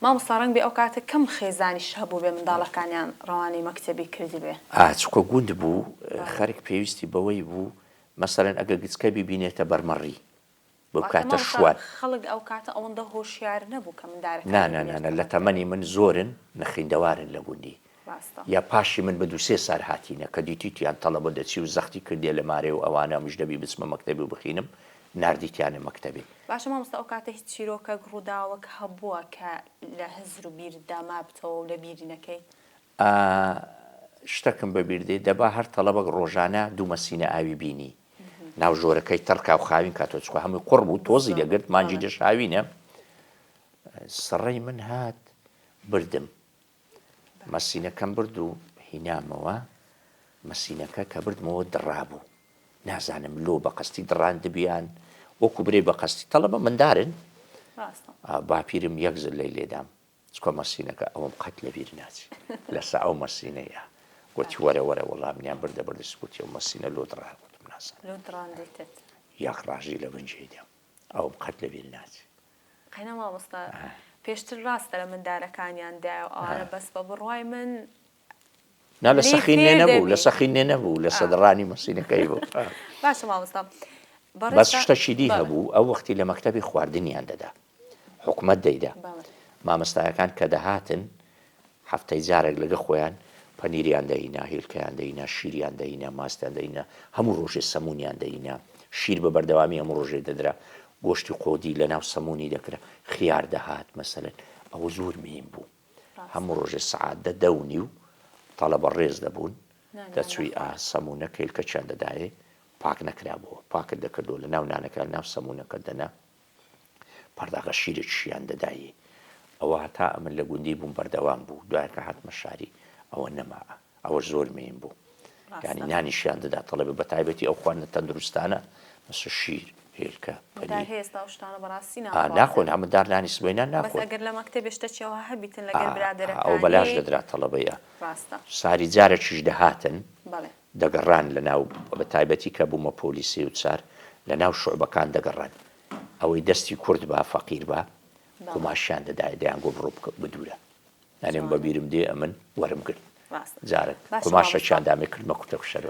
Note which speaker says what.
Speaker 1: مامۆستا ڕەنگبێ ئەو کاتە کەم خێزانیش هەبووبێ منداڵەکانیان ڕەوانەی مەکتەبی کردبێ. ئا چکۆ گوند بوو
Speaker 2: خەرک پێویستی بەوەی بوو مەسەلەن ئەگەر گچکە بیبینێتە بەرمەڕی بەو واتە کاتە مامۆستا شوان خەڵک ئەو کاتە
Speaker 1: ئەوەندە هۆشیار نەبوو کە مندارەکانی نانا بینێت نانا لە کەمەکە. تەمەنی
Speaker 2: من زۆرن نەخیندەوارن لە گوندی. ڕاستە. یا پاشی من بە دوو سێ سار هاتینە کە دیتیتیان تەڵەبە دەچی و زەختی کردیە لە مارێ و ئەوانە ئەمش دەبی بچمە مەکتەبێ و بخینم ناردیتیانە مەکتەبێ. باشە مامۆستا ئەو کاتە
Speaker 1: هیچ چیرۆکەک ڕووداوەک هەبووە کە لە هزر و بیرتدا مابتەوە و لە بیری نەکەی؟ ئا
Speaker 2: شتەکم بە بیر دێ دەبا هەر تەڵەبەک ڕۆژانە دوو مەسینە ئاوی بینی ناو ژۆرەکەی تەڕ کا و خاوین کاتەوە چکۆ هەمووی قوڕ بوو تۆزی دەگرت مانجی دەشاوینە سڕەی من هات بردم مەسینەکەم برد و هینامەوە، مەسینەکە کە بردمەوە دڕابوو، نازانم لۆ بە قەستی دڕاندبیان، وەکو برێ بە قەستی تەڵەبە مندارن، باپیرم یەک زلەی لێدام، چکۆ مەسینەکە ئەوەم قەت لە بیر ناچی، لەسە ئەو مەسینەیە، گۆتی وەرە وەرە وەڵامنیان بردە بەر دەستی، گۆتی ئەو مەسینە لۆ دڕا، گۆتم نازانم، یەک ڕاژی لە بن جێی دام، ئەوەم قەت لە بیر ناچی. قەینا مامۆستا
Speaker 1: پێشتر ڕاستە لە مندارەکانیان دایە و ئەوانە بەس بە بڕوای من
Speaker 2: نا لە سەخی نوێ نەبوو لە سەخی نوێ نەبوو لە سەدڕانی مەسینەکەی بوو باشە مامۆستا
Speaker 1: بەس
Speaker 2: شتەکی دی هەبوو ئەو وەختی لە مەکتەبی خواردنیان دەدا حکومەت دەیدا مامۆستایەکان کە دەهاتن هەفتەی جارێک لەگە خۆیان پەنیریان دەینا، هیلکەیان دەینا، شیریان دەینا، ماستیان دەینا، هەموو ڕۆژێ سەمونیان دەینا. شیر بە بەردەوامی هەموو ڕۆژێ دەدرا. گۆشتی قۆدی لە ناو سەمونی دەکرا. خیار دەهات مەسەلەن. ئەوە زۆر مهیم بوو. هەموو ڕۆژێ سەعات دە، دە و نیو تەڵەبە ڕێز دەبوون، دەچووی ئا سەمونەک هیلکەکیان دەدایێ، پاک نەکرابووە. پاکت دەکردەوە لە ناو نانەکە، لە ناو سەمونەکە دەنا. پەڕداغە شیرێک شیان دەدایێ ئەوە هەتا ئەمن لە گوندی بووم بەردەوام بوو دوایە کە هاتمە شاری ئەوە نەماء ئەوەش زۆر مێین بوو یانی ڕاستە نانی شیان دەدا تەڵەبە بە تایبەتی ئەو خواردنە تەندروستانە مەسە شیر هێلکە مدار پەنیر هەیە ئێستا ئەو شتانە بەڕاستی ئا ناخۆن ناخواردن ها مدار نانی سبەینان بەس ناخۆن ئەگەر لە مەکتەبێ شتەکی ئەوها هەبیتن ئا لەگەر ئا ئەوە برادەرەکانی بەلاش دەدرا تەڵەبەیا ڕاستە ساری جارەکیش دەهاتن بەڵێ دەگەڕان لەناو و بەتایبەتی کە بوومە پۆلی سێ و چار لەناو شوعبەکان دەگەڕان ئەوەی دەستی کورت با فەقیر با قوماشیان دەدایە دەیانگۆ بڕۆ بکە بدوورە ئەنێم بەبیرم دێ ئەمن وەرم گرت جارێک قوماشەکیان دامێ کردمە کوتەکوشەر